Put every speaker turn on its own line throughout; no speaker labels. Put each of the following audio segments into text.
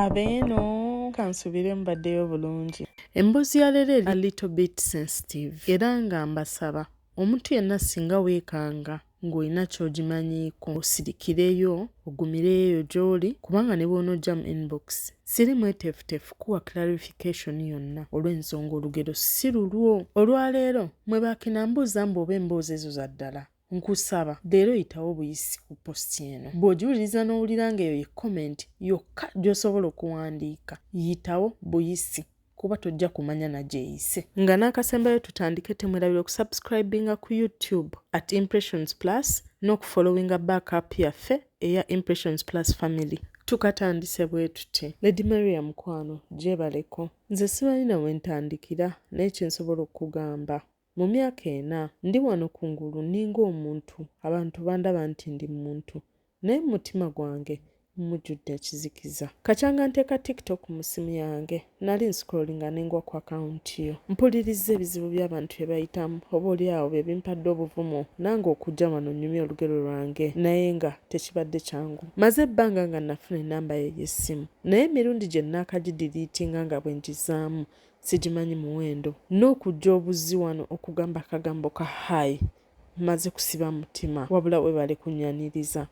abeeno kansubire mbaddeyo bulungi emboozi ya leero eri a little bit sensitive era nga mbasaba omuntu yenna singa weekanga ng'olina ky'ogimanyiiko osirikireyo ogumireyo eyo gy'oli kubanga ne bw'onojja mu inbox siri mweteefuteefu kuwa clarification yonna olw'ensonga olugero si lulwo olwaleero mwe baakina mbuuza mbu oba emboozi ezo za ddala Nkusaba leero yitawo buyisi ku post eno. Bw'ogiwuliriza n'owulira ng'eyo ye comment yokka gy'osobola okuwandiika, yitawo buyisi kuba tojja kumanya na gy'eyise. Nga n'akasembayo tutandike temwerabira okusubscribinga ku YouTube at Impressions Plus n'okufollowinga back app yaffe eya Impressions Plus Family. Tukatandise bwe tuti. Lady Maria mukwano gyebaleko. Nze simanyi na we ntandikira naye kye nsobola okukugamba. Mu myaka ena, ndi wano ku ngulu nninga omuntu, abantu bandaba nti ndi muntu, naye mu mutima gwange mujjudde ekizikiza. Kakyanga nteeka TikTok mu ssimu yange, nnali nscrollinga ne ngwa ku akawunti yo. Mpulirizza ebizibu by'abantu bye bayitamu, oboolyawo bye bimpadde obuvumu nange okujja wano nnyumye olugero lwange, naye nga tekibadde kyangu. Mmaze ebbanga nga nnafuna ennamba yo ey'essimu, naye emirundi gye nnaakagidiliitinga nga bwe ngizaamu, Sigimanyi muwendo. Nokujja obuzzi wano okugamba akagambo ka hi mmaze kusiba mutima. Wabula webale kunyaniriza.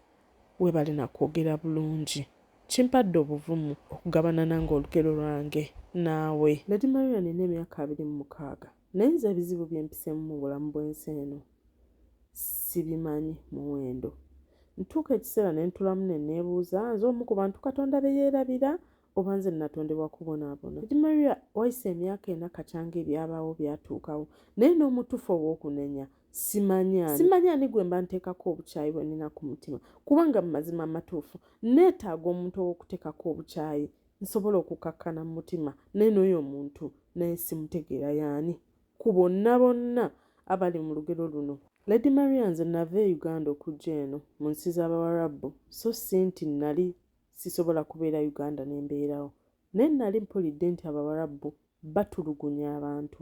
Webale nakwogera bulungi. Kimpadde obuvumu okugabana nange olugero lwange naawe. Lady Maria nina emyaka abiri mu mukaaga naye nze ebizibu byempisemu mu bulamu bwensi eno sibimanyi muwendo. Ntuuka ekiseera nentulamu nenebuuza nze omu ku bantu Katonda beyerabira oba nze natondebwa kubonaabona kati maria wayise emyaka ena kakyanga ebyabaawo byatuukawo naye n'omutuufu ow'okunenya simanya simanya ani gwe mba nteekako obukyayi bwe nina ku mutima kubanga mu mazima amatuufu neetaaga omuntu ow'okuteekako obukyayi nsobola okukakkana mu mutima naye n'oyo omuntu naye simutegeera yaani ku bonna bonna abali mu lugero luno lady maria nze nava e uganda okujja eno mu nsi z'abawarabu so si nti nnali Sisobola kubeera Uganda ne mbeerawo. Naye nnali mpulidde nti Abawarabu batulugunya abantu.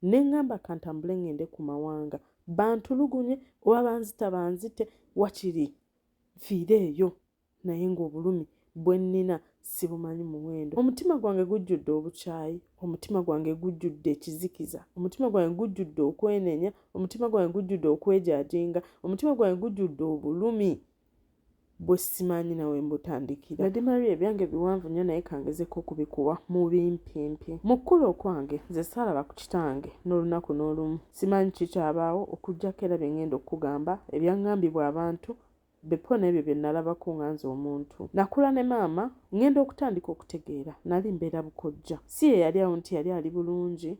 Ne ŋŋamba ka ntambule ŋŋende ku mawanga bantulugunye oba banzita banzite wakiri nfiire eyo naye ng'obulumi bwe nnina sibumanyi muwendo. Omutima gwange gujjudde obukyayi, omutima gwange gujjudde ekizikiza, omutima gwange gujjudde okwenenya, omutima gwange gujjudde okwejaajenga, omutima gwange gujjudde obulumi bwesimanyi nawe mbutandikira nadi maria ebyange biwanvu nyo naye kangezeko okubikuwa mubimpimpi mukkulu okwange nze saalaba ku kitange n'olunaku n'olumu simanyi kikyabaawo okujjako era byengenda okukugamba ebyangambibwa abantu bepo n'ebyo byenalabako nga nze omuntu nakula ne maama ngenda okutandika okutegeera nali mbeera bukojja si yeyali awo nti yali ali bulungi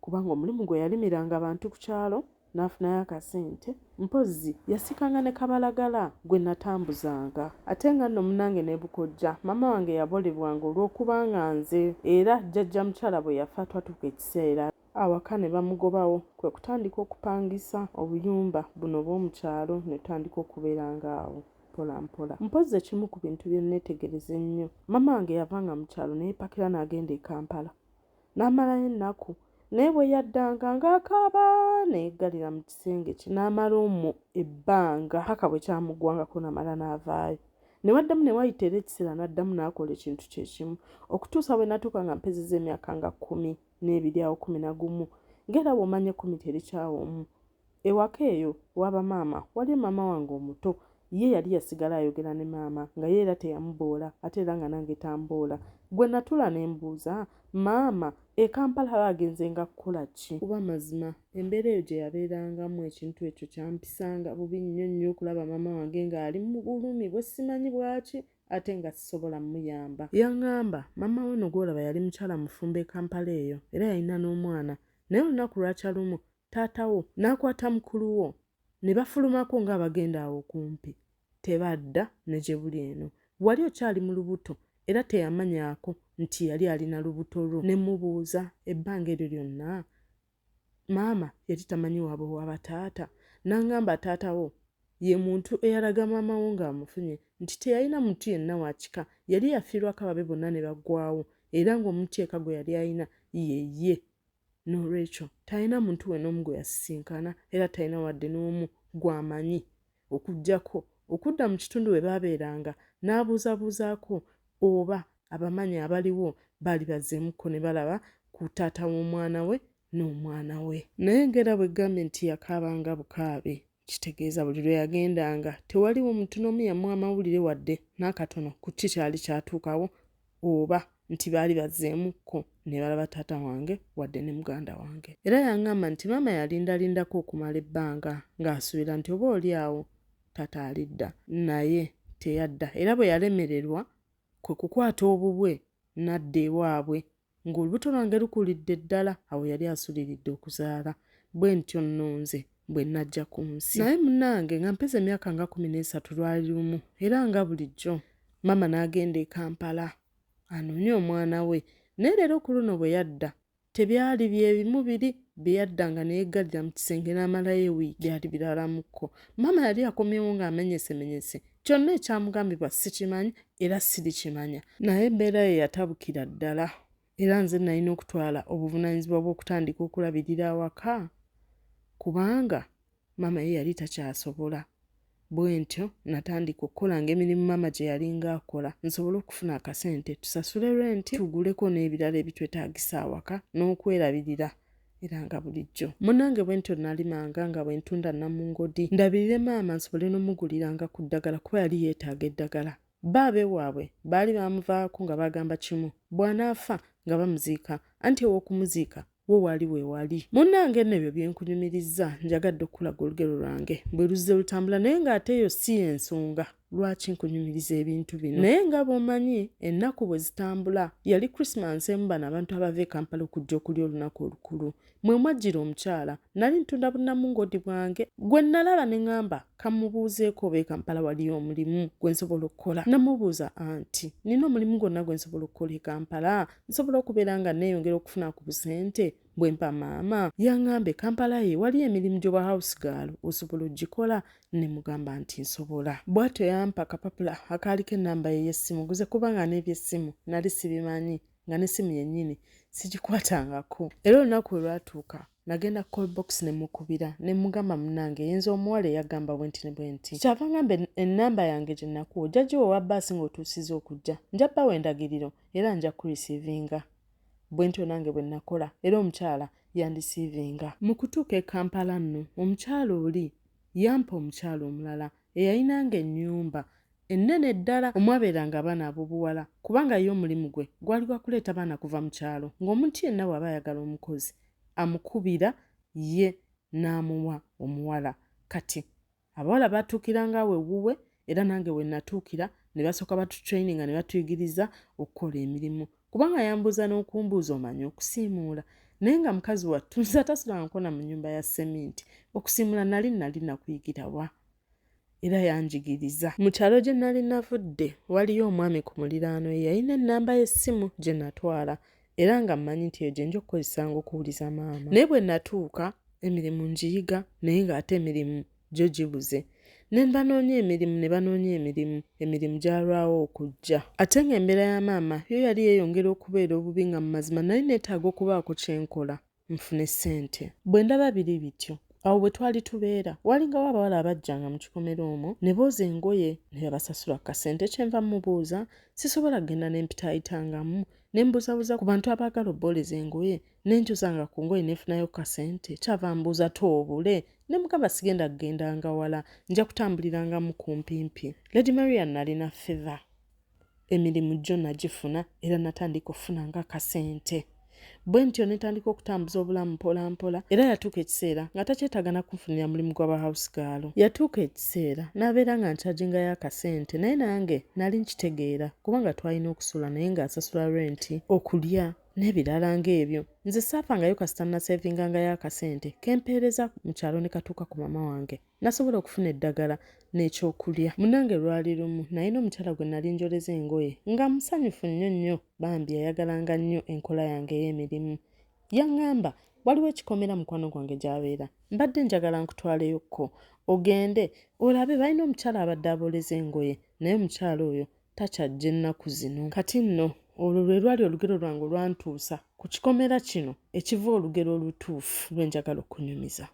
kubanga omulimu gwe yalimiranga bantu ku kyalo n'afunayo akasente mpozzi yasikanga ne kabalagala gwe natambuzanga ate nga nno munange ne bukojja maama wange yabolebwanga olw'okuba nga nze era jjajja mukyala bwe yafa twatuuka ekiseera awaka ne bamugobawo kwe kutandika okupangisa obuyumba buno obw'omu kyalo ne tutandika okubeeranga awo mpola mpola mpozzi ekimu ku bintu bye nneetegereza ennyo maama wange yavanga mu kyalo ne yeepakira n'agenda e kampala n'amalayo ennaku naye bwe yaddanga ng'akaaba ne yeggalira mu kisenge kye n'amala omwo ebbanga paka bwe kyamuggwangako namala n'avaayo ne waddamu ne wayita era ekiseera n'addamu n'akola ekintu kye kimu okutuusa bwe natuuka nga mpezeza emyaka nga kkumi n'ebiri awo kkumi na gumu ng'era bw'omanya ekkumi terikyawa omu Ewaka eyo waba maama waliyo maama wange omuto ye yali yasigala ayogera ne maama nga ye era teyamuboola ate era nga nange tamboola. Gwe natuula ne mbuuza maama e Kampala aba agenzenga kukola ki? Kuba mazima embeera eyo gye yabeerangamu ekintu ekyo kyampisanga bubi nnyo nnyo okulaba maama wange nga ali mu bulumi bwe simanyi bwaki ate nga sisobola muyamba. Yangamba maama we no gwolaba yali mukyala mufumbo e Kampala eyo era yalina n'omwana naye olunaku lwakya lumu taata wo n'akwata mukulu wo ne bafulumako ng'abagenda awo kumpi tebadda ne gye buli eno wali okyali mu lubuto era teyamanyaako nti yali alina lubuto lwo ne mubuuza ebbanga eryo lyonna maama yali tamanyi waabwe waba taata n'angamba taata wo ye muntu eyalaga maama wo ng'amufunye nti teyalina muntu yenna wa kika yali yafiirwako ababe bonna ne baggwawo era ng'omutyeka gwe yali alina ye ye N'olwekyo talina muntu we n'omu gwe yasisinkana era talina wadde n'omu gw'amanyi okuggyako okudda mu kitundu we baabeeranga n'abuuzabuuzaako oba abamanyi abaliwo baali bazzeemukko ne balaba ku taata w'omwana we n'omwana we. Naye ng'era bwe ggambye nti yakaabanga bukaabi. Kitegeeza buli lwe yagendanga tewaliwo muntu n'omu yamuwa mawulire wadde n'akatono ku ki kyali kyatuukawo oba nti baali bazzeemukko ne balaba taata wange wadde ne muganda wange. Era yang'amba nti maama yalindalindako okumala ebbanga ng'asuubira nti oba oli awo taata alidda naye teyadda era bwe yalemererwa kwe kukwata obubwe n'adda ewaabwe Ng'olubuto lwange lukulidde ddala, awo yali asuliridde okuzaala. Bwe ntyo nno nze bwe najja ku nsi. Naye munnange, nga mpeza emyaka nga kumi n'esatu, lwali lumu, era nga bulijjo, maama n'agenda e Kampala anoonye omwana we. Naye leero ku luno bwe yadda, tebyali bye bimu biri bye yaddanga ne yeggalira mu kisenge n'amalayo ewiiki. Byali biralamukko. Maama yali akomyewo ng'amenyesemenyese, Kyonna ekyamugambibwa sikimanyi era sirikimanya, naye embeera ye yatabukira ddala era nze nalina okutwala obuvunaanyizibwa bw'okutandika okulabirira awaka kubanga maama ye yali takyasobola. Bwentyo natandika okukolanga emirimu maama gye yalinga akola nsobole okufuna akasente tusasule renti tuguleko n'ebirala ebitwetaagisa awaka n'okwerabirira era nga bulijjo munange bwentyo nalimanga nga bwentunda namungodi ndabirire maama nsobole nomuguliranga ku ddagala kuba yali yeetaaga eddagala baabe waabwe baali baamuvaako nga bagamba kimu bw'anaafa nga bamuziika anti ew'okumuziika wo waali weewali munnange nno ebyo byenkunyumirizza njagadde okukulaga olugero lwange bwe luzze lutambula naye ng'ate eyo si y'ensonga Lwaki nkunyumiriza ebintu bino? Naye nga bw'omanyi ennaku bwe zitambula, yali Krisimansi emu bano abantu abava e Kampala okujja okulya olunaku olukulu. Mwe mwajjira omukyala. Nali ntunda bunnamungoodi bwange. Gwe nnalaba ne ŋamba kamubuuzeeko oba e Kampala waliyo omulimu gwe nsobola okukola. Namubuuza anti, nnina omulimu gwonna gwe nsobola okukola e Kampala? Nsobola okubeera nga nneeyongera okufuna ku busente? Bwe mpa maama yang'ambe Kampala ye wali emirimu gy'obwa house girl osobola ogikola ne mugamba nti nsobola. Bw'atyo yampa akapapula akaaliko ennamba ye ey'essimu guze kuba nga n'eby'essimu nali sibimanyi nga n'essimu yennyini sigikwatangako. Era olunaku we lwatuuka nagenda ku call box ne mukubira ne mugamba munnange yenze omuwala eyagamba bwenti ne bwenti. Kyava ngamba ennamba yange gye nakuwa ojja giwa owa bbaasi ng'otuusizza okujja. Nja bawa endagiriro era nja kukurisiivinga. bwentyo nange bwe nakola era omukyala yandisiivinga. Mu kutuuka e Kampala nno, omukyala oli yampa omukyala omulala eyalinanga ennyumba ennene ddala omwabeeranga abaana ab'obuwala kubanga ye omulimu gwe gwali gwa kuleeta baana kuva mu kyalo ng'omuntu yenna bw'aba ayagala omukozi amukubira ye n'amuwa omuwala. Kati Abawala baatuukiranga awo ewuwe era nange we natuukira ne basooka batutraininga ne batuyigiriza okukola emirimu kubanga yambuuza n'okumbuuza omanyi okusiimuula naye nga mukazi wattu nze atasulanga nkona mu nyumba ya seminti okusiimula nali nali nakuyigira wa era yanjigiriza mu kyalo gye nali navudde waliyo omwami ku muliraano ye yalina ennamba y'essimu gye natwala era nga mmanyi nti eyo gye nja okukozesanga okuwuliza maama naye bwe natuuka emirimu ngiyiga naye ng'ate emirimu gyo gibuze ne mbanoonya emirimu ne banoonya emirimu emirimu gyalwawo okujja ate ng'embeera ya maama yo yali yeeyongera okubeera obubi nga mu mazima nali neetaaga okubaako kye nkola nfune ssente. Bwe ndaba biri bityo, awo bwe twali tubeera waalingawo abawala abajjanga mu kikomera omwo ne booza engoye ne babasasula ku kasente kye nva mmubuuza sisobola kugenda ne mpitaayitangamu ne mbuzabuza ku bantu abaagala obbooleza engoye ne njozanga ku ngoye ne nfunayo ku kasente kyava mbuuza toobule ne mugamba sigenda kugendanga wala nja kutambuliranga mu kumpimpi lady maria nalina feva Emirimu gyo nagifuna era natandika okufunanga akasente. Bwe ntyo ne ntandika okutambuza obulamu mpolampola era yatuuka ekiseera nga takyetaaga na kunfunira mulimu gwa bahawusigaalo. Yatuuka ekiseera n'abeera nga ncagingayo akasente naye nange nali nkitegeera kubanga twalina okusula naye ng'asasula renti, okulya n'ebirala ng'ebyo. Nze saafangayo kasita naseevingangayo akasente ke mpeereza mu kyalo ne katuuka ku maama wange. Nasobola okufuna eddagala n'ekyokulya. Munnange lwali lumu nalina omukyala gwe nali njoleza engoye nga musanyufu nnyo nnyo bambi yayagalanga nnyo enkola yange ey'emirimu. Yaŋŋamba, Waliwo ekikomera mukwano gwange gy'abeera. Mbadde njagala nkutwaleyokko ogende olabe balina omukyala abadde abooleza engoye naye omukyala oyo takyajja ennaku zino. Kati nno olwo lwe lwali olugero lwange olwantuusa ku kikomera kino ekiva olugero olutuufu lwe njagala okunyumiza.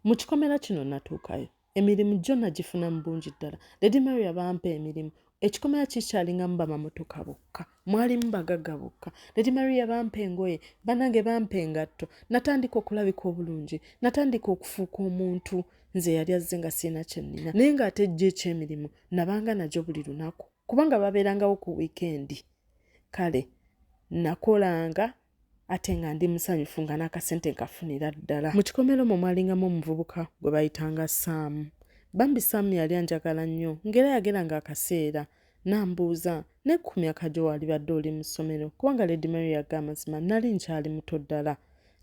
Mu kikomera kino natuukayo, emirimu gyo nagifuna mu bungi ddala. Lady Maria bampa emirimu. Ekikomera kikyalingamu bamamotoka bokka, mwalimu bagagga bokka. Lady Maria bampa engoye, banange bampa engatto. Natandika okulabika obulungi, natandika okufuuka omuntu nze yali azze nga sirina kye nnina. Naye ng'ate gyo eky'emirimu nabanga nagyo buli lunaku kubanga babeerangawo ku wiikendi. Kale nakolanga ate nga ndi musanyufu nga n'akasente nkafunira ddala mu kikomera omwo mwalingamu omuvubuka gwe bayitanga saamu bambi saamu yali anjagala nnyo ng'era yageranga akaseera nambuuza ne ku myaka gyo waalibadde oli mu ssomero kubanga lady mary yaga amazima nali nkyali muto ddala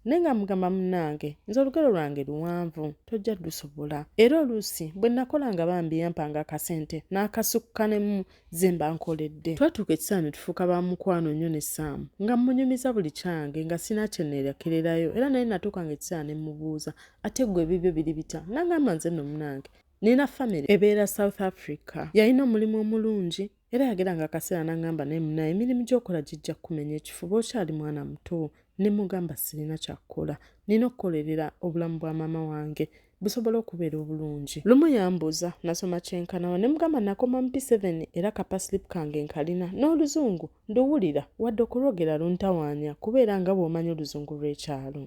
naye nga mugamba munnange nze olugero lwange luwanvu tojja lusobola era oluusi bwe nakolanga bambi yampanga akasente n'akasukka nemu ze mba nkoledde twatuuka ekisaana ne tufuuka ba mukwano nnyo ne saamu nga mmunyumiza buli kyange nga sina kye neerekererayo era naye natuuka nga ekisaana ne mmubuuza ate ggwe ebibyo biri bitya n'agamba nze nno munange nina famire ebeera south africa yalina omulimu omulungi era yagera nga akaseera n'aŋŋamba naye munaye emirimu gy'okola gijja kukumenya ekifuba okyali mwana muto ne mugamba sirina kyakukola nina okukolerera obulamu bwa maama wange busobola okubeera obulungi lumu yambuuza nasoma kyenkanawa ne mugamba nakoma mu p7 era kapaslip kange nkalina n'oluzungu nduwulira wadde okulwogera luntawaanya kubeera nga bw'omanyi oluzungu lw'ekyalo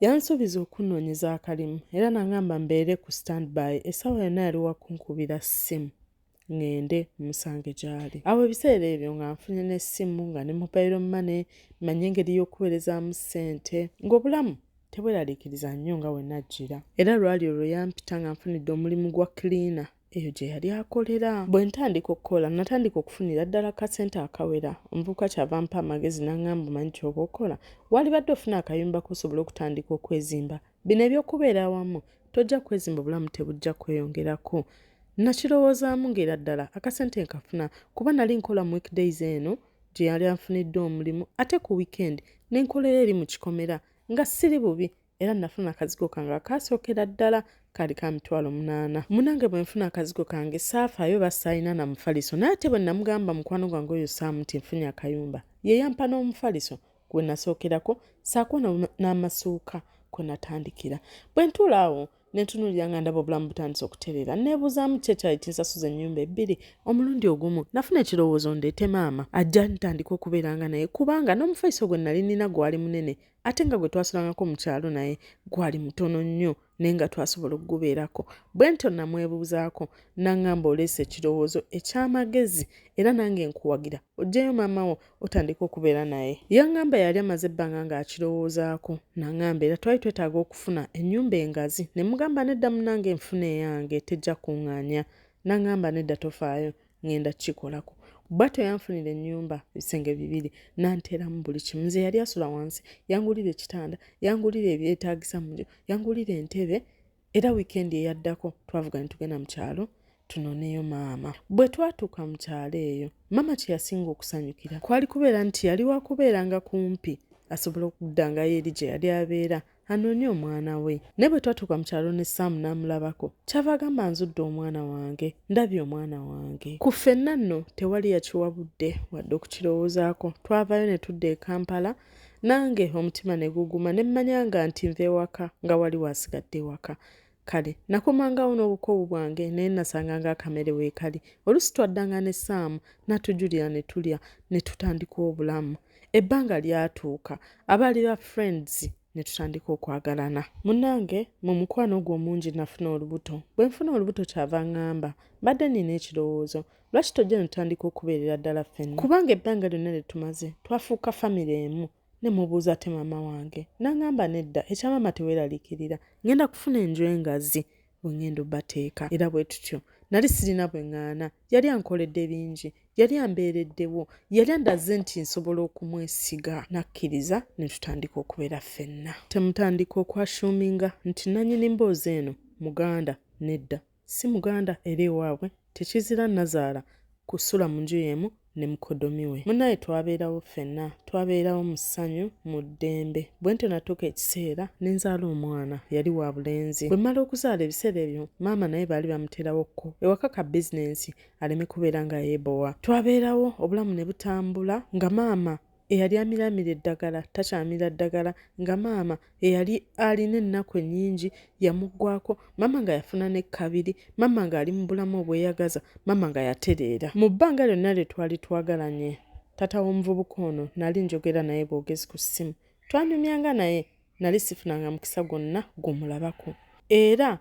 yansuubiza okunnoonyeza akalimu era nangamba mbeere ku standby essaawa yonna yali wakunkubira ssimu ŋŋende mmusange gy'ali. Awo ebiseera ebyo nga nfunye n'essimu nga ne mobile money, mmanyi engeri y'okuweerezaamu ssente ng'obulamu tebweraliikiriza nnyo nga we najjira. Era lwali olwo yampita nga nfunidde omulimu gwa cleaner eyo gye yali akolera. Bwe ntandika okukola natandika okufunira ddala ku kasente akawera. Omuvubuka kyava ampa amagezi n'ang'amba omanyi ky'oba okola, waalibadde ofuna akayumba k'osobola okutandika okwezimba Bino eby'okubeera awamu tojja kwezimba obulamu tebujja kweyongerako. Nakirowoozaamu ng'era ddala akasente nkafuna kuba nali nkola mu weekdays eno gye yali anfunidde omulimu ate ku wiikendi ne nkolera eri mu kikomera nga siri bubi era nafuna akazigo kange akaasookera ddala kaali ka mitwalo munaana munange bwe nfuna akazigo kange saafaayo oba saalina na mufaliso naye ate bwe namugamba mukwano gwange oyo saamu nti nfunye akayumba ye yampa n'omufaliso kwe nasookerako ssaako n'amasuuka kwe natandikira bwe ntuula awo ne ntunuulira nga ndaba obulamu butandise okutereera neebuuzaamu ki ekyali kinsasuza ennyumba ebbiri omulundi ogumu nafuna ekirowoozo ndeete maama ajja ntandika okubeeranga naye kubanga n'omufaiso gwe nali nina gwali munene ate nga gwe twasulangako mu kyalo naye gwali mutono nnyo naye nga twasobola okugubeerako bwe ntyo namwebuuzaako nangamba oleese ekirowoozo eky'amagezi era nange nkuwagira ojjeyo maama wo otandika okubeera naye yangamba yali amaze ebbanga ng'akirowoozaako nangamba era twali twetaaga okufuna ennyumba engazi ne mugamba nedda munange nfuna eyange tejja kuŋŋaanya nangamba nedda tofaayo ŋŋenda kukikolako bwatyo yanfunira ennyumba ebisenge bibiri nanteeramu buli kimu nze yali asula wansi yangulira ekitanda yangulira ebyetaagisa muyo yangulira entebe era wiikendi eyaddako twavuga ne tugenda mu kyalo tunoneyo maama bwe twatuuka mu kyalo eyo maama kye yasinga okusanyukira kwali kubeera nti yali wakubeeranga kumpi asobola okuddangayo eri gye yali abeera anoonye omwana we naye bwe twatuuka mu kyalo ne saamu n'amulabako kyava agamba nzudde omwana wange ndabye omwana wange ku ffenna nno tewali yakiwa budde wadde okukirowoozaako twavaayo ne tudda e kampala nange omutima ne guguma ne mmanyanga nti nva ewaka nga wali waasigadde ewaka Kale nakomangawo n'obukoowu bwange naye nasanganga akamere weekali. Oluusi twaddanga ne Ssaamu n'atujulira ne tulya ne tutandika obulamu. Ebbanga lyatuuka abaali ba friends ne tutandika okwagalana. Munnange mu mukwano ogwo omungi nafuna olubuto. Bwe nfuna olubuto kyava ang'amba, mbadde nnina ekirowoozo, lwaki tojja ne tutandika okubeerera ddala ffenna? Kubanga ebbanga lyonna lye tumaze twafuuka famire emu ne mubuuza ate maama wange n'aŋŋamba nedda ekya maama teweeraliikirira ng'enda kufuna enju engazi bwe ng'enda obateeka era bwe tutyo nali sirina bwe ŋŋaana yali ankoledde bingi yali ambeereddewo yali andaze nti nsobola okumwesiga n'akkiriza ne tutandika okubeera ffenna temutandika okwashuuminga nti nnanyini mboozi eno muganda nedda Si muganda era ewaabwe tekizira nnazaala kusula mu nju y'emu ne mukodomi we. Munnaaye twabeerawo ffenna. Twabeerawo mu ssanyu, mu ddembe. Bwe ntyo natuuka ekiseera ne nzaala omwana. Yali wa bulenzi. Bwe mmala okuzaala ebiseera ebyo maama naye baali bamuteerawo ko ewaka ka bizinensi aleme kubeera nga yeebowa. Twabeerawo obulamu ne butambula nga maama eyali amiramira eddagala takyamira ddagala nga maama eyali alina ennaku ennyingi yamuggwako maama nga yafuna ne kkabiri maama ng'ali mu bulamu obweyagaza maama nga yatereera mu bbanga lyonna lye twali twagalanye taata w'omuvubuka ono nali njogera naye bwogezi ku ssimu twanyumyanga naye nali sifunanga mukisa gwonna gwomulabako era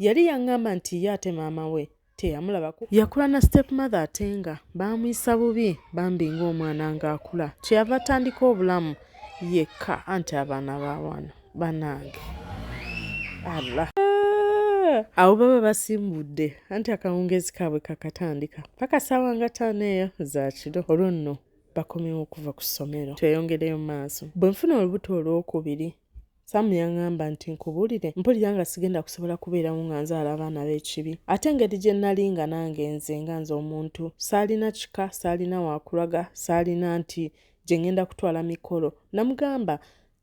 yali yaŋŋamba nti ye ate maama we teyamulabako yakula na step mother ate nga baamuyisa bubi bambi ng'omwana ng'akula kyeyava atandika obulamu yekka anti abaana ba wano banaange allah awo baba basimbudde anti akawungeezi kaabwe kakatandika paka saawa nga taano eyo zakiro olwo nno bakomewo okuva ku ssomero tweyongereyo maaso bwe nfuna olubuto olwokubiri Sam yaŋŋamba nti nkubuulire, mpulira nga sigenda kusobola kubeerawo nga nzaala abaana b'ekibi. Ate engeri gye nnali nga nange nze nga nze omuntu, saalina kika, saalina wa kulaga, saalina nti gye ŋŋenda kutwala mikolo. Nnamugamba,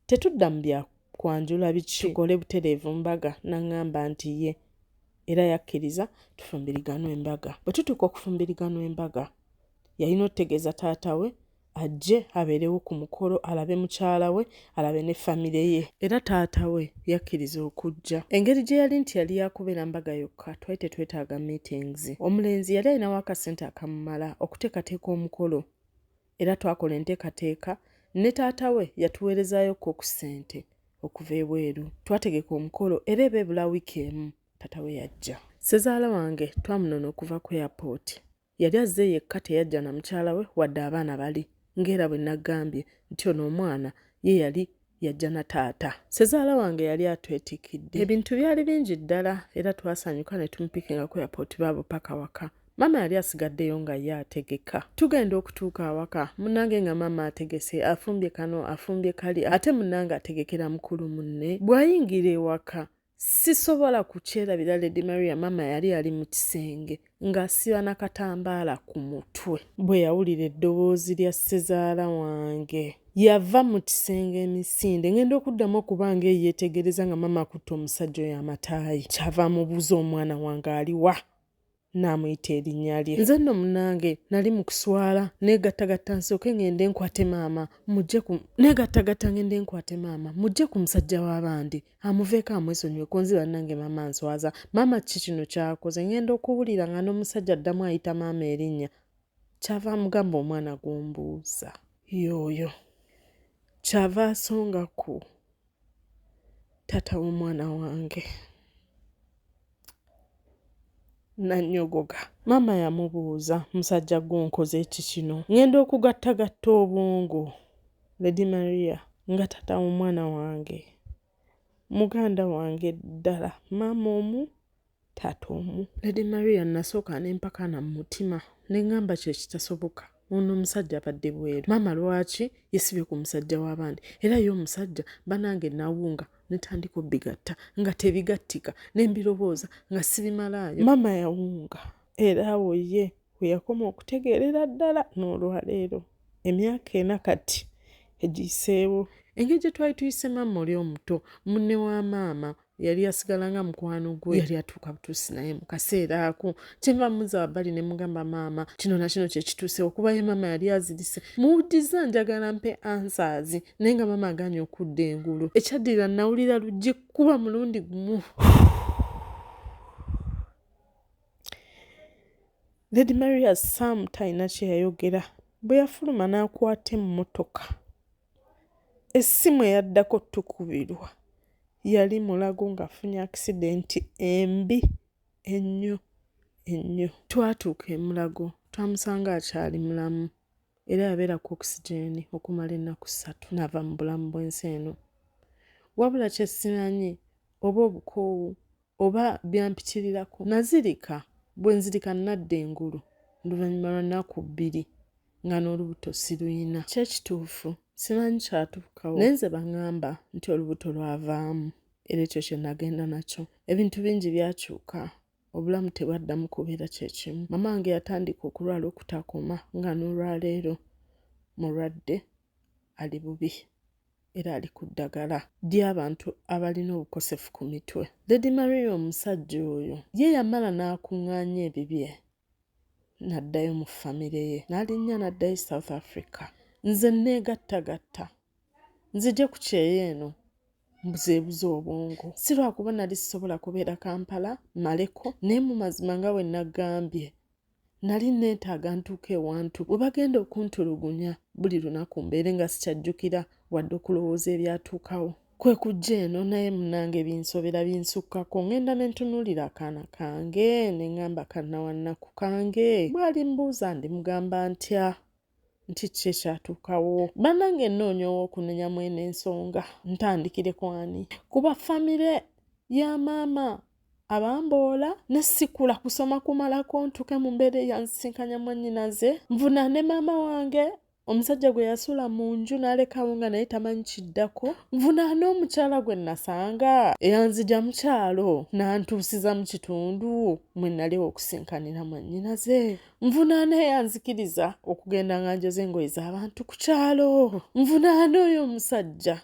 Tetudda mu bya kwanjula biki tukole butereevu mbaga? N'aŋŋamba nti, Yee. Era yakkiriza tufumbiriganwe embaga. Bwe tutuuka okufumbiriganwa embaga, yalina okutegeeza taata we ajje abeerewo ku mukolo alabe mukyala we alabe ne famire ye. Era taata we yakkiriza okujja. Engeri gye yali nti yali yaakubeera mbaga yokka twali tetwetaaga meetings. Omulenzi yali alinawo akasente akamumala okuteekateeka omukolo era twakola enteekateeka ne taata we yatuweerezaayokko ku ssente okuva ebweru. Twategeka omukolo era eba ebula wiiki emu taata we yajja. Ssezaala wange twamunona okuva ku airport. Yali azze yekka teyajja na mukyala we wadde abaana bali ng'era bwe naggambye nti ono omwana ye yali yajja na taata. Ssezaala wange yali atwetikidde. Ebintu byali bingi ddala era twasanyuka ne tumupikinga ku airport baabo paka waka. Maama yali asigaddeyo nga ye ategeka. Tugenda okutuuka awaka munange nga maama ategese afumbye kano afumbye kali ate munange ategekera mukulu munne bw'ayingira ewaka sisobola kukyerabira lady maria maama yali ali mu kisenge ng'asiba na katambaala ku mutwe bwe yawulira eddoboozi lya ssezaala wange yava mu kisenge emisinde ngenda okuddamu okuba nga eyeetegereza nga maama akutte omusajja oyo amataayi kyava amubuuza omwana wange aliwa n'amuyita erinnya lye. Nze nno munnange nali mu kuswala neegattagatta nsooke ng'ende nkwate maama mujje ku neegattagatta ng'ende nkwate maama mujje ku musajja w'abandi amuveeko amwesonyiwe ku nzi bannange maama nswaza maama kiki kino kyakoze ng'enda okuwulira nga n'omusajja addamu ayita maama erinnya kyava amugamba omwana gumbuuza yooyo kyava asonga ku taata w'omwana wange nannyogoga. Maama yamubuuza, musajja gwe onkoze ki kino? Ng'enda okugattagatta obwongo. Lady Maria nga taata w'omwana wange muganda wange ddala maama omu taata omu. Lady Maria nasooka nempakana mu mutima nengamba kyo ekitasoboka ono omusajja abadde bweru maama lwaki yesibye ku musajja w'abandi era ye omusajja banange nawunga netandika obigatta nga tebigattika nembirowooza nga sibimalaayo maama yawunga era awo ye weyakoma okutegeerera ddala n'olwaleero emyaka ena kati egiyiseewo engeri gye twali tuyise maama oli omuto munne wa maama yali asigala nga mukwano gwe yali atuuka butuusi naye mu kaseera ako kyenva muza wabbali ne mugamba maama kino na kino kye kituuse okuba ye maama yali azirise muwuddiza njagala mpe ansaazi naye nga maama aganye okudda engulu ekyaddira nawulira luggi kuba mulundi gumu lady maria sam talina kye yayogera bwe yafuluma n'akwata emmotoka Essimu eyaddako tukubirwa yali Mulago ng'afunye akisidenti embi ennyo ennyo. Twatuuka e Mulago twamusanga akyali mulamu era yabeera ku okisigyeni okumala ennaku ssatu n'ava mu bulamu bw'ensi eno. Wabula kye simanyi oba obukoowu Oba byampitirirako. Nazirika, bwe nzirika nnadda engulu oluvannyuma lwa nnaku bbiri nga n'olubuto siruyina. Kyo kituufu, simanyi kyatuukawo naye nze bangamba nti olubuto lwavaamu era ekyo kye nagenda nakyo. Ebintu bingi byakyuka, obulamu tebwaddamu kubeera kye kimu. Maama wange yatandika okulwala okutakoma nga n'olwaleero mulwadde ali bubi. era ali ku ddagala ly'abantu abalina obukosefu ku mitwe. Lady Maria omusajja oyo ye yamala n'akung'aanya ebibye n'addayo mu famire ye n'alinnya n'addayo e South Africa. Nze nneegattagatta nzije ku kyeyo eno mbuzeebuze obwongo si lwakuba nali sisobola kubeera Kampala maleko naye mu mazima nga bwe naggambye nali neetaaga ntuuka ewantu we bagenda okuntulugunya buli lunaku mbeere nga sikyajjukira wadde okulowooza ebyatuukawo kwe kujja eno naye munange binsobera binsukkako ngenda ne ntunuulira akaana kange ne ŋŋamba kannawannaku kange bw'alimbuuza ndimugamba ntya nti kiki ekyatuukawo banange nnoonya ow'okunenya mwene ensonga ntandikire ku ani kuba famire ya maama abamboola ne sikula kusoma kumalako ntuuke mu mbeera eyansisinkanya mwannyinaze nvuna ne maama wange omusajja gwe yasula mu nju n'alekawo nga naye tamanyi kiddako nvunaana omukyala gwe nasanga eyanzija mu kyalo n'antuusiza mu kitundu mwe nali okusinkanira mwannyinaze nvunaana eyanzikiriza okugenda nga njoza engoye z'abantu ku kyalo nvunaana oyo omusajja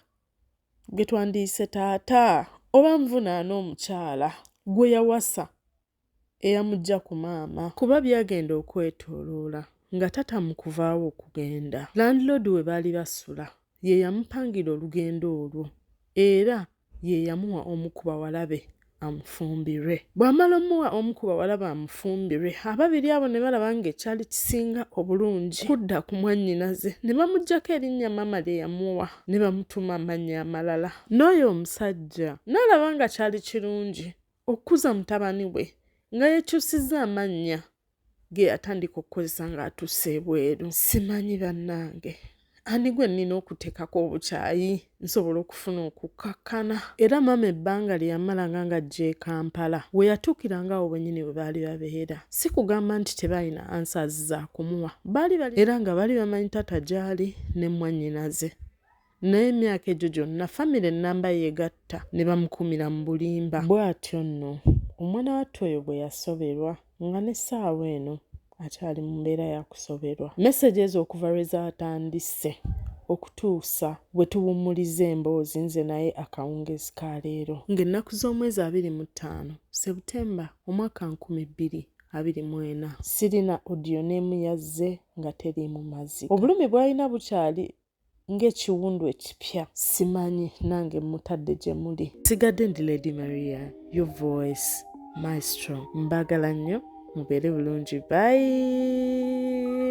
gwe twandiyise taata oba nvunaana omukyala gwe yawasa eyamujja ku maama kuba byagenda okwetoloola nga tata mu kuvaawo okugenda landlord we baali basula ye yamupangira olugendo olwo era ye yamuwa omu ku bawala be amufumbirwe. Bw'amala omuwa omu ku bawala be amufumbirwe, ababiri abo ne balaba ng'ekyali kisinga obulungi kudda ku mwannyinaze ne bamuggyako erinnya maama lye yamuwa ne bamutuuma amannya amalala. N'oyo omusajja n'alaba nga kyali kirungi okukuza mutabani we nga yeekyusizza amannya ge yatandika okukozesa ng'atuuse ebweru simanyi bannange ani gwe nnina okuteekako obukyayi nsobola okufuna okukkakkana era maama ebbanga lye yamalanga nga ajja e kampala we yatuukira ngaawo bwennyini bwe baali babeera si kugamba nti tebaalina ansaazi za kumuwa baali bali era nga baali bamanyi taata gy'ali ne mmwannyinaze Naye emyaka egyo gyonna famire nnamba ye egatta ne bamukuumira mu bulimba. Bw'atyo nno omwana wattu oyo bwe yasoberwa nga n'essaawa eno akyali mu mbeera ya kusoberwa. Mesegi ezo okuva lwe zaatandise okutuusa bwe tuwummuliza emboozi nze naye akawungeezi ka leero ng'ennaku z'omwezi abiri mu ttaano Sebutemba omwaka nkumi bbiri abiri mu ena sirina odiyo n'emu yazze nga teriimu mazzi. Obulumi bw'alina bukyali ng'ekiwundu ekipya. Simanyi nange mmutadde gye muli. Nsigadde ndi Lady Maria your voice maestro mbaagala nnyo mubeere bulungi bye.